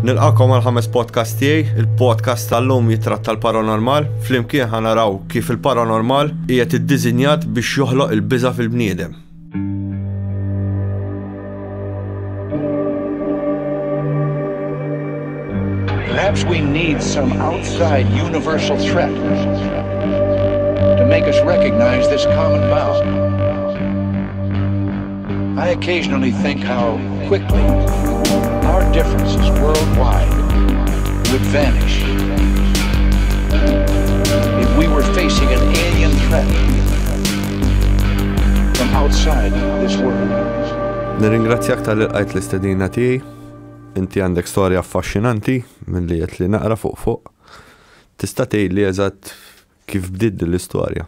Nilqakom għal ħames podcast tiegħi, il-podcast tal-lum jitratta l-paranormal, flimkien ħanaraw kif il-paranormal hija tiddiżinjat biex joħloq il-biża fil-bniedem. Perhaps we need some outside universal threat to make us recognize this common bound. I occasionally think how quickly our differences worldwide would vanish if we were facing an alien threat from outside this world. Nirringrazzjak tal-ilqajt l-istedina tiegħi. Inti għandek storja affaxxinanti milli qed li naqra fuq fuq. Tista' tgħidli eżatt kif bdiet din l-istorja?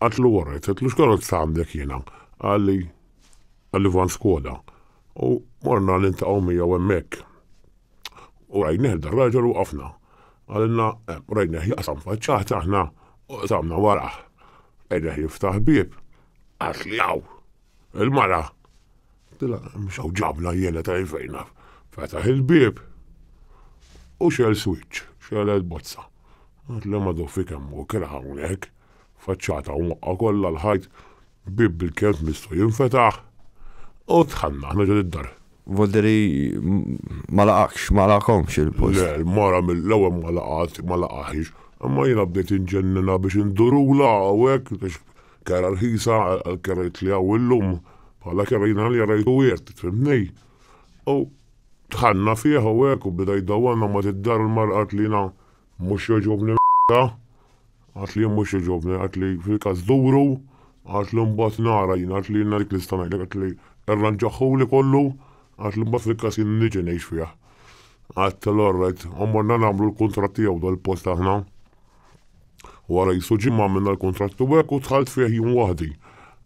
Għedtlu warajt, għedtlu x'karozza għandek jiena? Qalli, għalli van Skoda. U morna niltaqgħu miegħu hemmhekk. U rajnieh dar raġel u waqafna. Qalilna, eh, rajnieh jaqsam faċċata aħna u qsamna warah. Rajnieh jiftaħ bieb. Għad li hawn. Il-mara. Tila, mhux hawn ġabna jiena ta' fejn naf. Fetaħ il-bieb u xel switch, xel il-bozza. Għad li madu fi kemm u kira hawnhekk. faċċata u mwaqqgħa kollha l-ħajt, bieb bil-kelb mistu jinfetaħ, u dħalna aħna ġo d-dar. Volderi ma laqakx, ma laqakomx il-post. Le, l-mara mill-ewwel ma laqat, ma laqaħiex, imma jiena bdejt inġennina biex indurulha u hekk, għax kera rħisa għal kerajt li hawn illum, bħala kera jiena li rajtu wirt, fimni? U dħalna fih u hekk u beda jdawwarna mbagħad id-dar il-mara qalet lilna mhux jogħġobni Għad li jien mhux jogħġobni, għad li fil-każ duru, għad li mbagħad nara jien, għad li jiena dik nista' ngħidlek, għad li rranġahhuli kollu, għad li mbagħad fil-każ jien niġi ngħix fih. Għad l-orret, għamorna nagħmlu l-kuntratt tiegħu dal-post aħna. Wara jisu ġimgħa għamilna l-kuntratt u hekk u dħalt fih jien waħdi.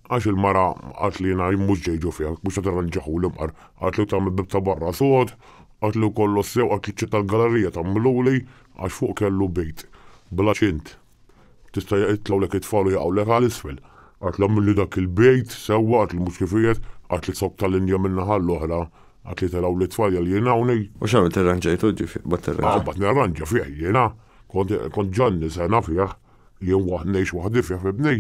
Għax il-mara għad li jiena jien mhux ġejġu fih, mhux qed irranġahhuli mqar, għad li tagħmel bib ta' barra sod, għad li kollox sew, għad li ċċetta l-galerija tagħmilhuli, Għax fuq kellu bejt bla ċint. Tista' jitlgħulek it-tfal u jaqgħulek għal isfel. Għad l-għamilli dak il-bejt sewwa, għad li mhux kif qiegħed, għad li zokk tal-Indja min-naħa l-oħra, għad li telgħu l-itfal jgħal jien hawn. U x'għamilt irranġajtu ġifieri qbadt tirranġa? Qbadt nirranġa fih jiena. Kont Ġanni sena fih. Jien waħd ngħix waħdi fih f'ibni.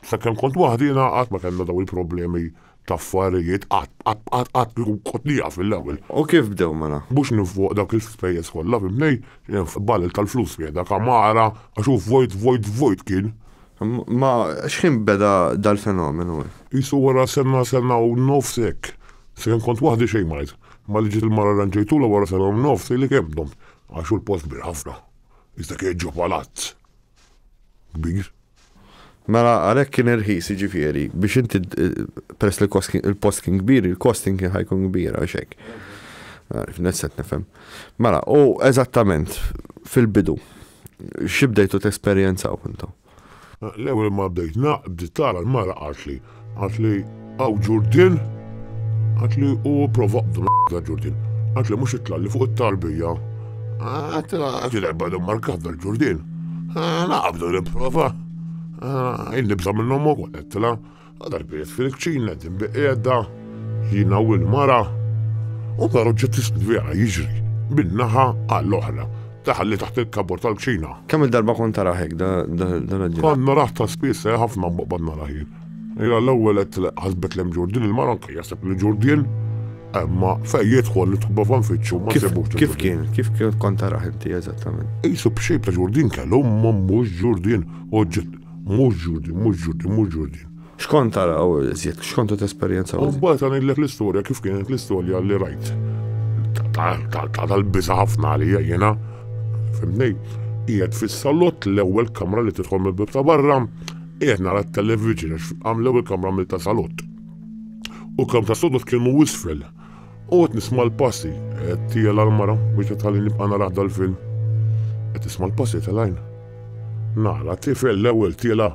Sakemm kont waħdiena qatt ma kellna dawn il-problemi t'affarijiet, qatt, qatt, qatt, qatt kieku kont nieqaf mill-ewwel. U kif bdew mela? Mhux ninfoq dawk l-ispejjeż kollha, fhimtni? Ballel tal-flus fih dak għamara, għax hu vojt, vojt, vojt kien. Ma x'ħin beda dal-fenomenu? Qisu wara sena, sena u nofs hekk. Sakemm kont waħdi xejn ma għidt. Malli ġiet il-mara rranġejtulha wara sena u nofs illi kemm domt, għax hu l-post kbir ħafna. Iżda kien ġo palazz kbir. Mela għalhekk kien irħis jiġifieri biex inti peress li l-post kien kbir, il-costing kien ħajkun kbir għax hekk. Nesset nifhem. Mela, u eżattament fil-bidu, xi bdejtu tesperjenzaw intom? L-ewwel ma bdejt naqbd tara l-mara qaltli, Għat li għaw ġurdin, għat li u prova d-droga ġurdin, għat li mux it-tlalli fuq it-tarbija, għat li għat li għabba d-markat dal-ġurdin, għat li għabda l-prova, għin nibza minnom u għat li għadar bijet fil-kċina, din biqedda, jina u l-mara, u daru ġet t-sbija jiġri, bin-naħa għall-oħra. Daħal li taħt il-kabor tal-kċina. Kemm il-darba kont tara hekk dan il-ġimgħa? Kont narah ta' spiss eh, ħafna mbaqbad narah jien. Ira l-ewwel qed ħasbet lem Ġurdin il-mara anke jaseb li Ġurdin imma fejn jidħol li tħobba fan fiċċu ma sebux. Kif kien? Kif kont tara inti eżattament? Isu b'xejb ta' Ġurdin kellu mhux Ġurdin u mhux Ġurdin, mhux Ġurdin, mhux Ġurdin. X'kont tara u iżjed, x'kont qed tesperjenza? U mbagħad ngħidlek l-istorja kif kienet l-istorja li rajt tal-biża' ħafna għalija jiena, fimni, qiegħed fis-salott l-ewwel kamra li tidħol mill-bib ta' barra, qiegħed nara t-television għax għam l-ewwel kamra mill ta' salott. U kam ta' sodot kienu wisfel. U qed nisma' l-passi, qed tiela l-mara biex qed ħalli nibqa' nara dal-film. Qed nisma' l-passi tal-għajn. Nara tifel l-ewwel tiela'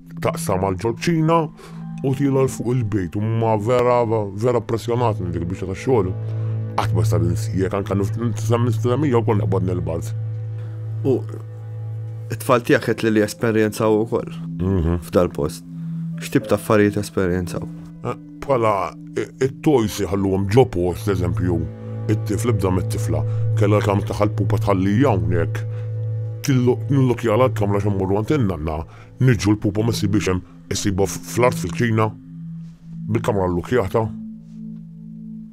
Taqsam għal ġolċina u tila l fuq il-bejt u ma vera vera pressjonat minn dik biex ta' xogħol. Qatt ma sar insijek anke niftisem nistemija u kont naqbad nilbad. U it-tfal tiegħek qed li li esperjenzaw ukoll mhm. f'dal-post. X'tip ta' affarijiet esperjenzaw? Eh, bħala it-tojs jħalluhom ġo post, eżempju, it-tifl ibda mit-tifla, kellha kam taħal pupa tħalli hawnhekk. Nillok jala l-kamra xemmurru għantinna għanna, Niġġu l-pupa ma jsibhiex hemm, issibha fl-art fil-kċina, bil-kamra llukkjata.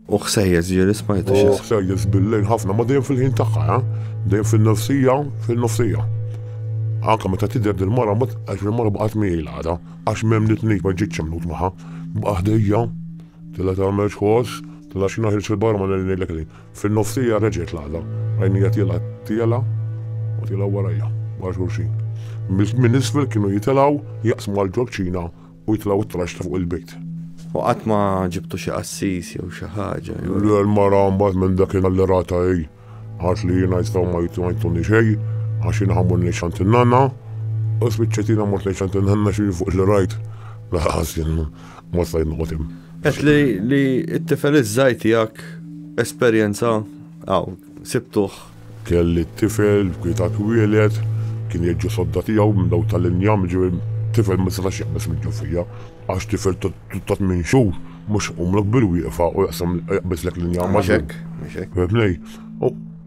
U ħsejjes ġieli smajtu xi. U ħsejjes bil-lejl ħafna, ma dejjem fil-ħin tagħha, eh? dejjem fin-nofsija, fin-nofsija. Anke meta tidher dil-mara, għax il-mara baqgħet miegħi l-għada, għax m'hemm nitnejt ma ġietx imnut magħha, baqgħet ħdejja, tilla tagħmel xħoss, tilla xi naħil xi barra ma ngħidlek li. Fin-nofsija reġgħet l-għada, rajni qed jilgħa tiela' u tiela' warajja, wara xulxin. Minn isfel kienu jitilgħu, jaqsmu għall-ġorċina u jitilgħu t-traxx ta' fuq il-bejt. U qatt ma ġibtu xi qassis jew xi ħaġa? Le, l-mara mbagħad minn dakinhar li ratha hi għad li jiena jistgħu ma jtuni xejn għax jien ħammur ngħix għand in-nanna u spiċċajt jiena mort ngħix għand in-nanna xi fuq li rajt. Laqqas jien Ma stajt noqgħod hemm. Qed li li t-tifel iż-żgħir tiegħek esperjenza hawn, sibtuh. Kelli t-tifel, kwieta twieled, kien jgħid ġo sodda tiegħu minn dawn tal-injam, jiġifieri tifel ma setax jaqbeż mill-ġufija, għax tifel ta' tmien xhur mhux iqumlok bil-wieqfa u jaqsam jaqbeżlek l-injam. Mhux hekk, mhux hekk. Fehimtni?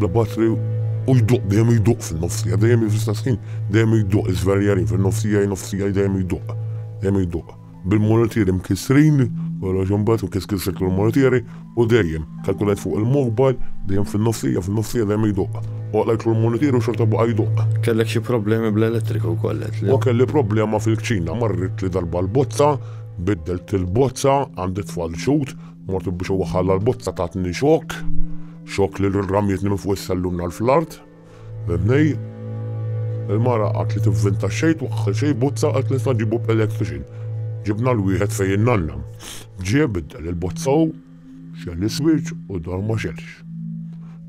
Bla batri u jduq dejjem jduq fin-nofsija, dejjem hi fl-istess ħin, dejjem jduq iżverjarin fin-nofs tiegħi, nofs tiegħi dejjem jduq, dejjem jduq. Bil-multieri mkissrin, kollox imbagħad mkiss kissret l-multieri u dejjem, kalkulajt fuq il-mobile, dejjem fin-nofsija, fin-nofsija dejjem jduq. Għoqlajtlu l-multieri u xorta baqa' jduq. Kellek xi problemi bl-elettrika wkoll għedtli. O kelli problema fil-kċina, marritli darba l-bozza, biddelt il-bozza, għandi tfal ġud, Mort biex iwaħħalha l-bozza tatni xokk, xokk li rrammietni minn fuq is-sellun għal fl-art. Mibnej, il-mara qatt li tivvinta xejn twaħħal xejn bozza qatt nista' nġibu b'electrician. Ġibna l-wieħed fejn in-nanna. Ġie biddel il-bozza hu, xell is-switch u d-dawl ma xellx.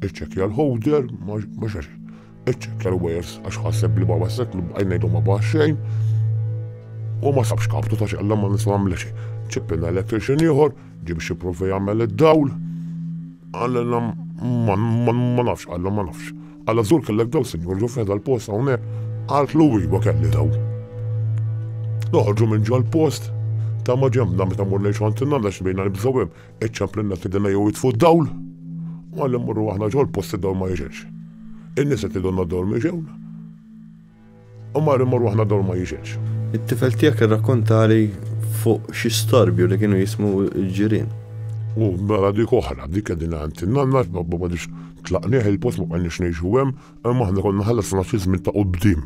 Iċċekkja l-ħowder, ma xellx. Iċċekkja l-wires għax ħaseb li baba sekk li bqajna jdu ma baħ xejn. U ma sabx kaptu ta' xella ma nisma għamla xejn. Ċippina electrician ieħor, ġib xi provi jagħmel id-dawl. Għallilna ma nafx, għalla ma nafx. Għalla żur kellek daw sinjur ġu feda l-post hawnhekk, għalt lu iva kelli daw. Noħorġu minn ġol post ta' ma ġemna meta mur lejn xantinna għax bejna nibżgħu hemm Iċċamplinna f'idina jew jitfu d-dawl, u għalli mmorru aħna ġol post id-dawl ma jiġilx. In-nisa tidonna d-dawl ma jiġewna. U marri mmorru aħna d-dawl ma jiġilx. It-tifel tiegħek irrakkontali fuq xi storbju li kienu jismu l-ġirien. U mela dik oħra, dik qegħdin għand in-nanna, babba ma tlaqnieh il-post ma qanniex ngħixu hemm, imma aħna konna ħallasna xi żmien ta' qudiem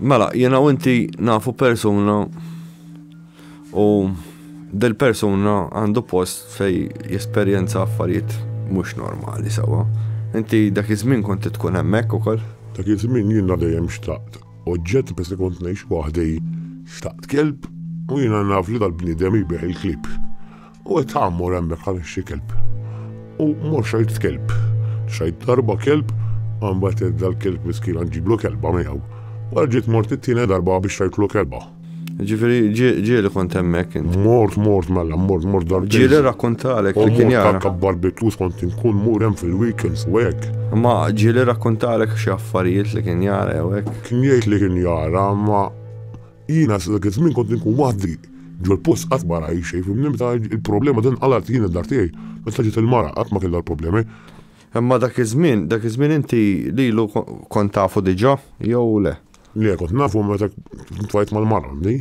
Mela, jiena u inti nafu persuna u dil-persuna għandu post fej jesperjenza affarijiet mhux normali sewwa. Inti dak iż-żmien kont tkun hemmhekk ukoll? Dak iż-żmien jiena dejjem xtaqt oġġett peress li kont ngħix waħdi. Xtaqt kelb u jiena naf li dal-bniedem jbigħ il-klieb. U qed tgħammur hemmhekk għaliex xi kelb. U mhux xajt kelb. Xajt darba kelb, għambat dal-kelb miskin ġiblu kelba miegħu. Wara ġiet mort it-tieni darba biex xajtlu kelba. Ġifiri, ġieli kont hemmhekk. Mort, mort, mella, mort, mort darba. Ġieli rakkontalek li kien jara. Mort barbecue kont inkun mur hemm fil-weekends u hekk. Ma ġieli rakkontalek xi affarijiet li kien jara jew hekk. Kien jgħid li kien jara, ma Jiena sa dak iż-żmien kont inkun waħdi ġol-post qatt ma rajt xejn fimni meta il-problema din qalgħet jien id-dar tiegħi meta ġiet il-mara qatt ma kellha l-problemi. Imma dak iż-żmien dak iż-żmien inti lilu kont tafu diġa jew le? Le kont nafu meta tlqajt mal-mara għandi.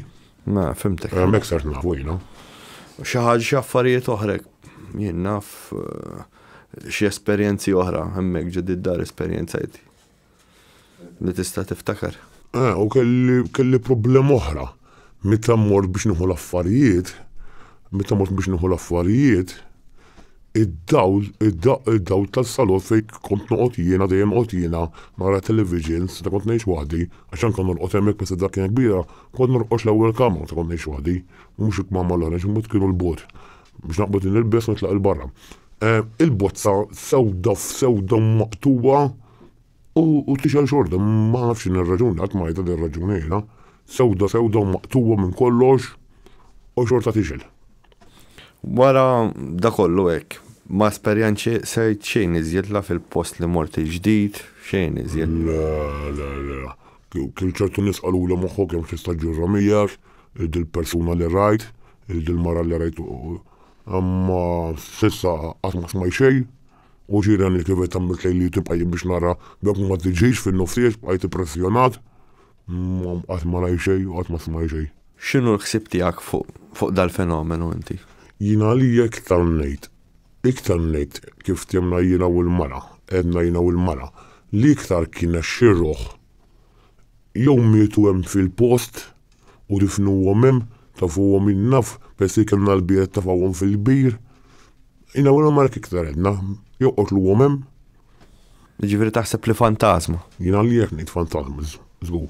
Ma fimtek. Hekk sert nafu jiena. Xi ħaġa xi affarijiet oħra jien naf xi esperjenzi oħra hemmhekk ġo did-dar esperjenzajt. Li tista' tiftakar. Eh, u kelli kelli problema oħra. Meta mmort biex nieħu l-affarijiet, meta mort biex nieħu l-affarijiet, id-dawl, id-dawl tal-salot fejn kont noqgħod jiena, dejjem noqgħod jiena, nara televisions, meta kont ngħix waħdi, għax anke norqod hemmhekk meta dak kien kbira, kont norqodx l-ewwel kamra meta kont ngħix waħdi, u mhux il-kmamar l-oħra, għax imut kienu l-bot. Biex naqbad li nilbes u nitlaq il-barra. Eh, il-bozza sewda f'sewda maqtuwa u tixel xorta, ma nafx in raġuni għat majta din raġuni jena. Sewda sewda maqtuwa minn kollox u xorta tixel. Wara da kollu hekk, ma esperjenċi sejt xejn iżjed la fil-post li mort il-ġdid, xejn iżjed. La, la, la. Kien ċertu nies qaluli moħħok kemm tista' ġġurra miegħek, dil-persuna li rajt, dil-mara li rajt imma s'issa qatt ma smajt xejn u ġiren li kievet għamilt lejli tibqa' jien biex nara b'hekk ma tiġix fin-nofsijiet bqajt ippressjonat imma qatt ma rajt xejn u qatt ma smajt xejn. X'inhu l-ħsieb tiegħek fuq dal-fenomenu inti? Jien għalija iktar ngħid Iktar minn hekk, kif fthimna jiena u l-mara, għedna jiena u l-mara, li iktar kienet xi rruħ, jew mietu hemm fil-post u difnuhom hemm, tafuhom jien naf peress li kellna l-bijet tafawhom fil-kbir, jiena u l-mara hekk iktar għedna, jew qotluhom hemm. Jiġifieri taħseb li fantasma? Jien għalija hekk ngħid fantasma, żgur.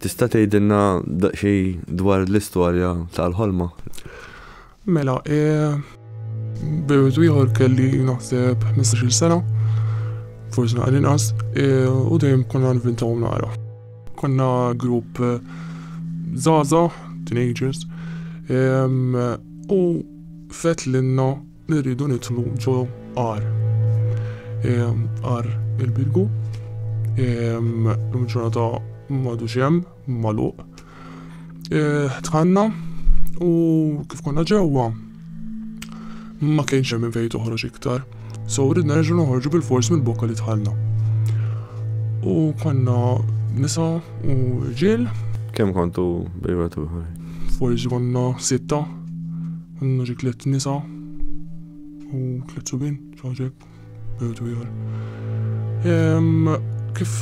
Tista' tgħidilna daqsxejn dwar l-istorja tal-ħolma? Mela, b'wieħed ieħor kelli naħseb 15-il sena, forsi naqra inqas, u dejjem konna nvintaw nara. Konna grupp żgħażagħ, teenagers, u fett lilna li rridu nidħlu ġo għar. Għar il-bilgu, l-ġurnata madu xem, maluq. Eh, tħanna u kif konna ġewwa ma kienx hemm fejn toħroġ iktar. So rrid nerġgħu noħorġu bil-fors mill-bokka li tħallna. U konna nisa u ġil. Kemm kontu bejwet u Forsi konna sitta Għandna xi tliet nisa u tliet subien, xi ħaġa hekk, bejwet u ieħor. Kif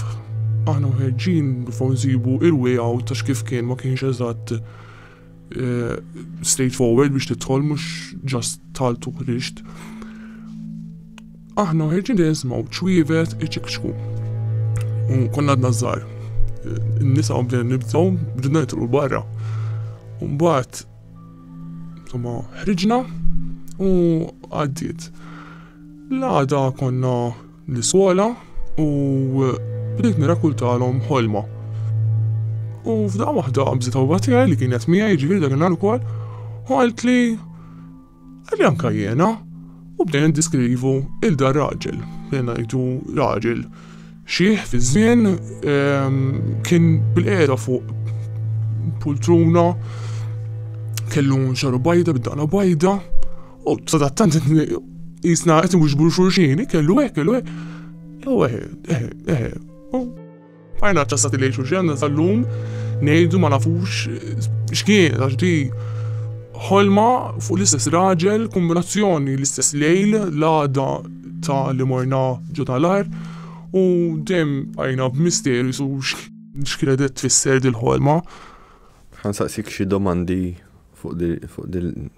aħna mħeġġin nipprovaw nsibu il-way out għax kif kien ma kienx eżatt eh, straight forward biex tidħol mhux ġast talt u ħriġt. Aħna mħeġġin li nismaw ċwievet iċikċku. U konna għadna żgħar. Eh, Nisa bdejna nibżgħu bdejna nitru barra. Mbagħad Imma ħriġna u għaddiet. L-għada konna l-iskola u bdejt nirakultalhom ħolma. U f'daqqa waħda qabżet għawwa tiegħi li kienet miegħi ġifieri dak il-nhar ukoll u qaltli Għalli anka jena, u bdejna diskrivu il-da raġel, bdejna jdu raġel xieħ fi żmien ehm, kien bil-qeda fuq pultruna kellu xaru bajda bid-daqna bajda u sadattant jisna qed mhux xurxini kellu hekk kellu hekk. Ewe, eħe, eħe, Bqajna ċċassati lejn xulxin sal-lum ngħidu ma nafux x'kien għax di ħolma fuq l-istess raġel, kombinazzjoni l-istess lejl, l-għada ta' li morna ġo tal-għar u dejjem bqajna b'misterju su x'kienet qed tfisser dil-ħolma. Ħansaqsik xi domandi fuq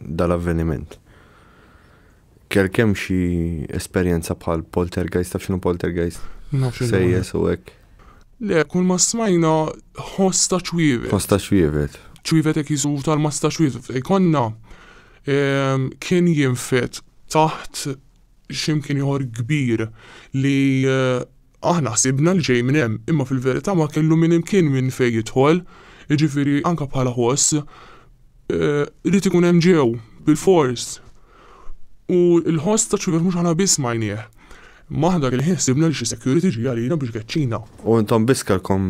dal-avveniment. Kellek hemm xi esperjenza bħal poltergeist, taf x'inhu poltergeist? Naf x'inhu. Sejjes u hekk. Le, kull ma smajna ħoss ta' ċwievet. Ħoss ta' ċwievet. Ċwievet hekk jiżu tal-massa ta' ċwievet. Ikonna ehm, kien jinfet taħt x'imkien ieħor kbir li eh, Aħna ħsibna li ġej minn hemm, imma fil-verità ma kellu minn imkien minn fejn jidħol, jiġifieri anke bħala ħoss irid ikun hemm ġew, bilfors. U l-ħoss ta' ċivet mhux aħna biss smajnieh. Imma aħna dak il-ħin ħsibna li xi security ġie għalina biex jkeċċina. U intom biss kellkom,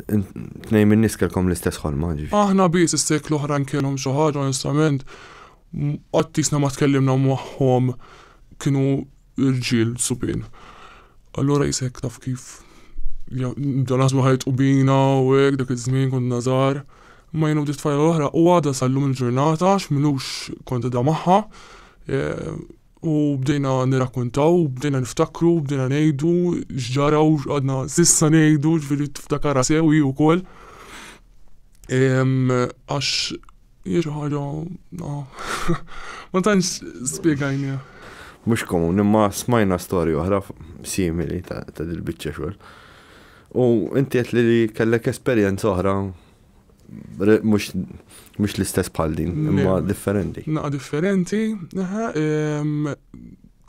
tnejn min-nies kellkom l-istess ħolma, ġifieri. Aħna biss, is-sejk l-oħrajn kellhom xi ħaġa, onestament, qatt qisna ma tkellimna magħhom, kienu. Irġiel subien. Allura qishek taf kif bdew naħsbu ħa jitqu bina u hekk dak iż-żmien konna żgħar. Imma jien u ftit tfajla l-oħra u għadha sa llum il-ġurnata għax m'ilux kont qegħda magħha u bdejna nirrakkuntaw u bdejna niftakru u bdejna ngħidu x'ġara u x'qgħadna s'issa ngħidu, jiġifieri tiftakarha sew hi wkoll għax Jirħoru, no. Ma tantx spiegajni. Mux komun, imma smajna storja oħra simili ta' dil-bicċa xol. U inti għet li kellek esperienza oħra mux l-istess bħal din, imma differenti. Naqa differenti,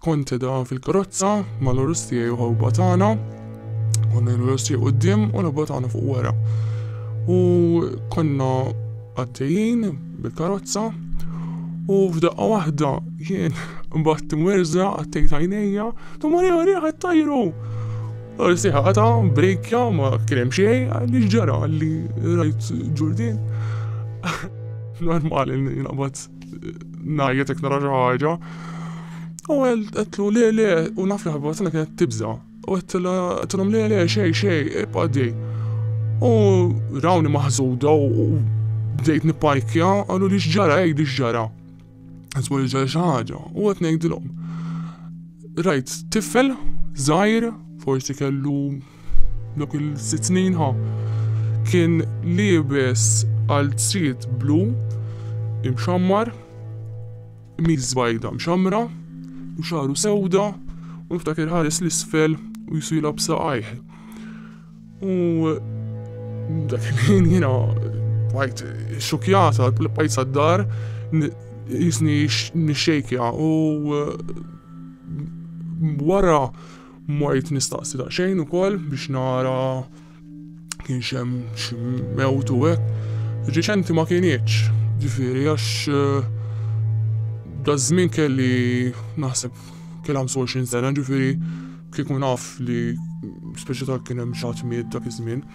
Kont qiegħda fil-karozza mal-għarus tiegħi u ħawba tagħna. Konna l-għarus tiegħi quddiem u l-ħawba tagħna fuq wara. U konna għaddejjin bil-karozza u f'daqqa waħda jien mbagħad mwerża għattejt għajnejja, tu Marija Marija qed tajru. Orsi ħata, brejkja, ma kien hemm xejn, għalli ġara li rajt ġurdin. Normali li naqbad Ngħajjet jekk nara xi ħaġa. U għedtlu le le u naf li ħabba tagħna kienet tibża. U għedtilhom le le xej xej ibqa' dej. U rawni maħżuda u bdejt nipajkja għallu li x'ġara għid x'ġara. Għazmu li ġara xi ħaġa u qed ngħidilhom. Rajt tifel żgħir forsi kellu Dawk il-sitt snin ħa kien liebes qalziet blu imxammar, qmis bajda mxammra u xagħru sewda u niftakir iħares 'l isfel u jsu jilgħab saqajh. U dak il-ħin jiena bqajt xokjata, bqajt sad-dar jisni nixxejkja u wara Mort nistaqsi daqsxejn ukoll biex nara kien xem xi mewt u hekk. Riċenti ma kienieċ, ġifieri għax eh, daż-żmien kelli naħseb kelli 25 sena, ġifieri kieku naf li speċi ta' kien hemm xi ħadd miet dak iż-żmien.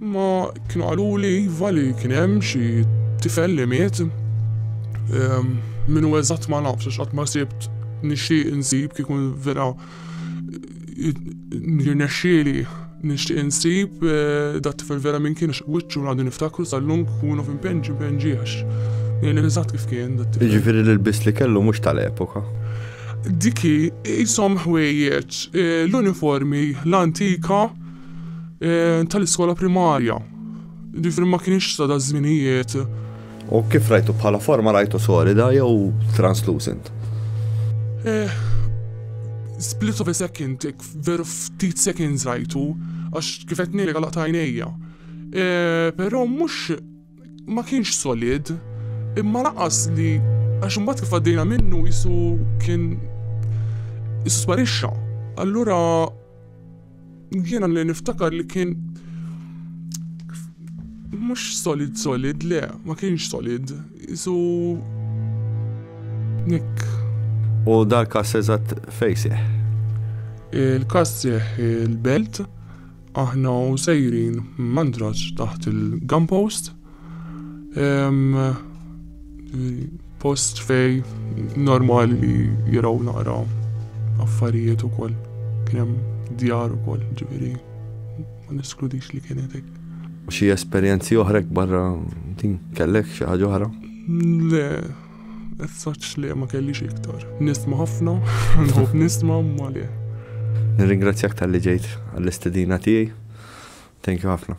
Ma kienu għaluli iva li kien hemm xi tifel li miet. Ehm, min u eżatt ma nafx għax qatt ma sibt nixtieq insib kieku vera nirnexxieli nixtieq insib eh, dat tifel vera minn kien wiċċu għandu niftakru sal-lum kunu f'impenġi impenġi għax jien eżatt kif kien dat tifel. Ġifieri li l-biss li kellu mhux tal-epoka. Diki jisom ħwejjeġ eh, l-uniformi l-antika Eh, tal-iskola primarja. Ġifri ma kienx ta' da' żminijiet. U kif rajtu bħala forma rajtu solida jew translucent? Eh, split of a second, veru ftit seconds rajtu, għax kifet nili għalaq tajnejja. Eh, Pero mux ma kienx solid, imma laqas li għax mbagħad kif għaddejna minnu jisu kien jisu sparixxa. Allura Jiena li niftakar li kien mhux solid solid le, ma kienx solid, isu hekk. U dal-każ eżatt fejn seħħ? Il-każ seħħ il-Belt, aħna u sejrin Mandraġġ taħt il-gun post. Hemm post fej normali li jiraw naqra affarijiet ukoll. Kien hemm djar ukoll, ġifieri ma neskludix li kienet hekk. Xi esperjenzi oħrek barra din kellek xi ħaġa oħra? Le, as such le ma kellix iktar. Nisma' ħafna, nħobb nisma' ma le. Nirringrazzjak tal-li ġejt għall-istedina tiegħi. Thank you ħafna.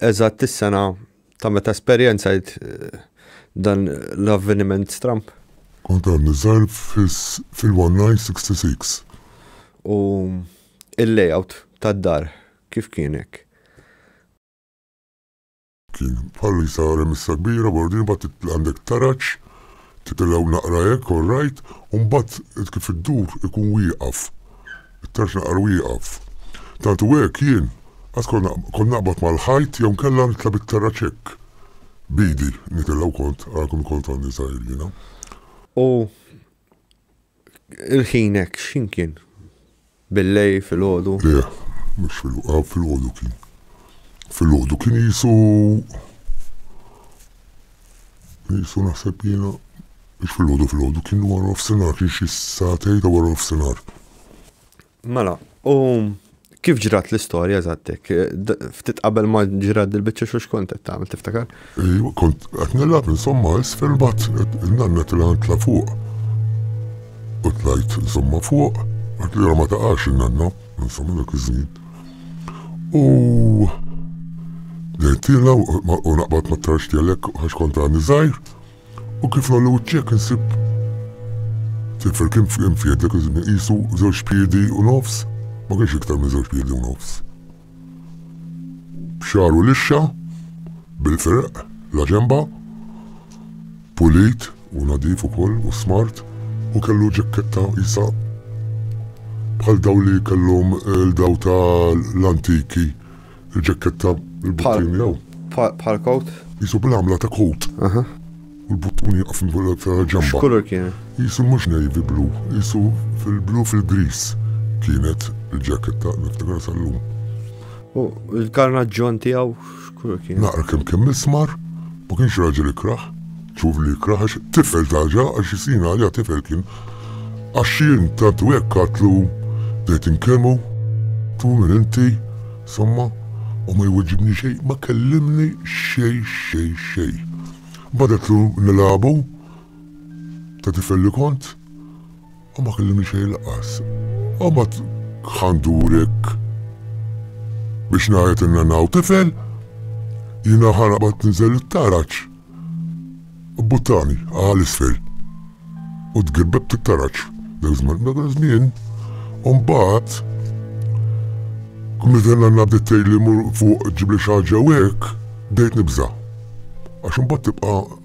eżatt is-sena ta' meta esperjenzajt dan l-avveniment stramb. Kont għadni żgħir fil-1966. U l-layout tad-dar kif kien hekk? Kien bħal isa remissa kbira, bordin, imbagħad għandek taraġ. Titellgħu naqra hekk, all right, u mbagħad kif iddur ikun wieqaf. It-tarġ naqra wieqaf. Tant hu hekk, jien qatt kont naqbad mal-ħajt jew inkella nitla' bit-terraċ hekk b'idi nitella' u kont, ara kemm kont għandi żgħir jiena. U Il-ħin hekk x'ħin kien? Bil-lejl, filgħodu? Le, mhux filgħodu, ah, filgħodu kien. Filgħodu kien qisu qisu naħseb jiena mhux filgħodu filgħodu kien wara nofsinhar kien xi sagħtejn ta' wara nofsinhar. Mela, u kif ġrat l-istorja zattek? Ftit qabel ma ġrat dil-bicċa xux kontet ta' għamil tiftakar? Iju, kont għatnilab insomma isfel bat nanna tila tla fuq. U tlajt insomma fuq, għat li ma taqax nanna, insomma dak iż-żmien. U dejtila u naqbat ma trax tjelek għax kont għani zaħir. U kif nagħmlu ċ-ċekk insib tifel kien kien f'jed dak iż-żmien qisu żewġ piedi u nofs, ma kienx iktar minn żewġ piedi u nofs. B'xagħru lixxa, bil-ferq, la ġenba, pulit u nadif ukoll u smart u kellu ġakketta qisha bħal dawn li kellhom il-daw ta' l-antiki. Il-ġekketta, il-buttini jew. Bħal kowt? Jisu bl-għamla ta' kowt. U l-buttuni jaqfin fil-ġamba. X'kulur kien? Jisu mhux navy blu, jisu fil-blu fil-gris kienet il-ġekketta niftakar sal-lum. U l-karnaġġon tiegħu x'kulur kien? Naqra kemm kemm ismar, ma kienx raġel ikraħ, Txuf li kraħx tifel taġa għax is-snin għalija tifel kien Għax jien tant u hekk għadtlu bdejt inkellmu Tu min inti somma u ma jwiġibni xejn ma kellimni xejn xejn xejn Mbagħad għedtlu nilagħbu ta' tifel li kont U ma kellimni xejn lanqas. Mbagħad ħandurek biex ngħid li nanaw tifel, jiena ħa naqbad ninżel it-taraġ. Bbuttani għal isfel u tgirbebt it-taraġ. Dak żmien, dak iż-żmien, u mbagħad Midan għanna bdittej li mur fuq ġibli xaġa u hekk, bdejt nibża. Għax imbagħad tibqa'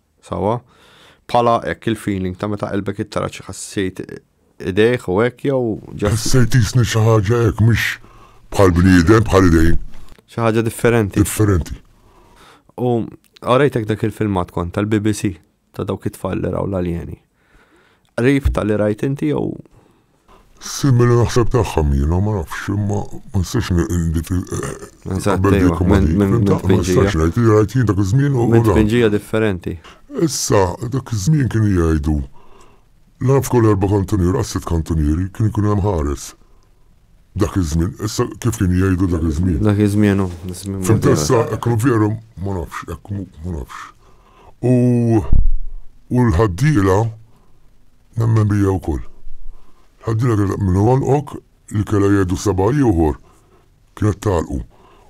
Sawa? Bħala hekk il-feeling ta' meta qalbek ittara xi ħassejt idejh u hekk jew ġas. Ħassejt isni xi ħaġa hekk mhux bħal bniedem bħal idejn. Xi ħaġa differenti. Differenti. U għarajtek dak il-filmat kont tal-BBC ta' dawk it-tfal li raw l-aljeni. Qrib ta' li rajt inti jew. Simili naħseb tagħha Mira, ma nafx, imma ma nistax dik naqbel dik ma dik. Ma nistax ngħid li rajt jien dak iż-żmien u. Minn tpinġija differenti. Issa, dak iż-żmien kienu jgħidu la naf kull erba' kantunieri, għas sitt kantunieri, kien ikun hemm ħares. Dak iż-żmien, issa kif kien jgħidu dak iż-żmien. Dak iż-żmien hu. Fimtessa, hekk veru ma nafx, hekk ma nafx. u u l-ħaddiela nemmen bija wkoll. L-ħaddiela kienet taqbel li ngħolqok, li kellha jgħidu seba' ieħor kienet tagħlqu.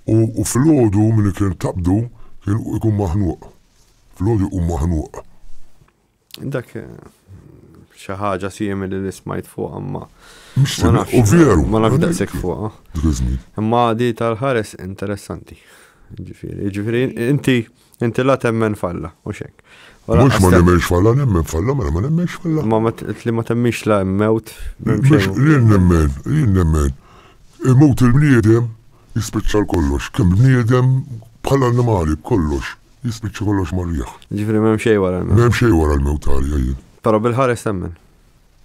U u filgħodu min kien taqbdu kien ikun maħnuq. Filgħodu jkun maħnuq. Dak xi ħaġa simili li smajt fuq imma. U veru. Ma nafx daqshekk fuqha. Imma di tal-ħares interessanti. Ġifieri, ġifieri inti Inti la temmen falla, u xek. Mux ma nemmenx falla, nemmen falla, mela ma nemmenx falla. Ma li ma temmenx la mewt. Mux li nemmen, li nemmen. Mut il-bniedem jispiċċa kollox, kem bniedem bħal animali kollox, jispiċċa kollox marriħ. Ġifri mem xej wara l-mewt. Mem xej wara l-mewt għalja jien. Pero bil-ħares temmen.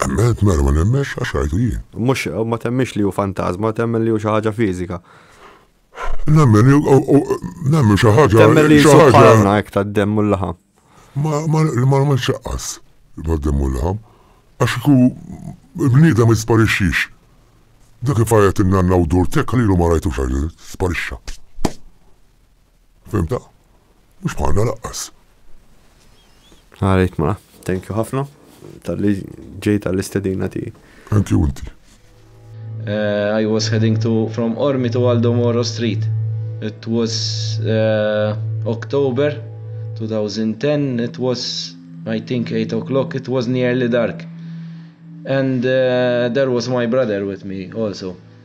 Emmet mela ma nemmenx għax rajtu jien. Mux ma temmenx li ju fantazma, temmen li ju xaħġa fizika. Nemmen, nemmen xi ħaġa. Temmen li xi ħaġa hekk tad-demm u l-laħam. Ma ma ma ċaqqas bad-demm u l-laħam. Għax ku bniedem ma jisparixxix. Dak kif għajat in-nanna u dur tekka lilu ma rajtux għax sparixxa. Fimta? Mhux bħalna laqqas. Għalejt ma, thank you ħafna tal-li ġejt għall-istedina tiegħi. Thank you inti. Uh, I was heading to from Ormi to Aldo Moro Street. It was uh, October 2010. It was, I think, 8 o'clock. It was nearly dark. And uh, there was my brother with me also.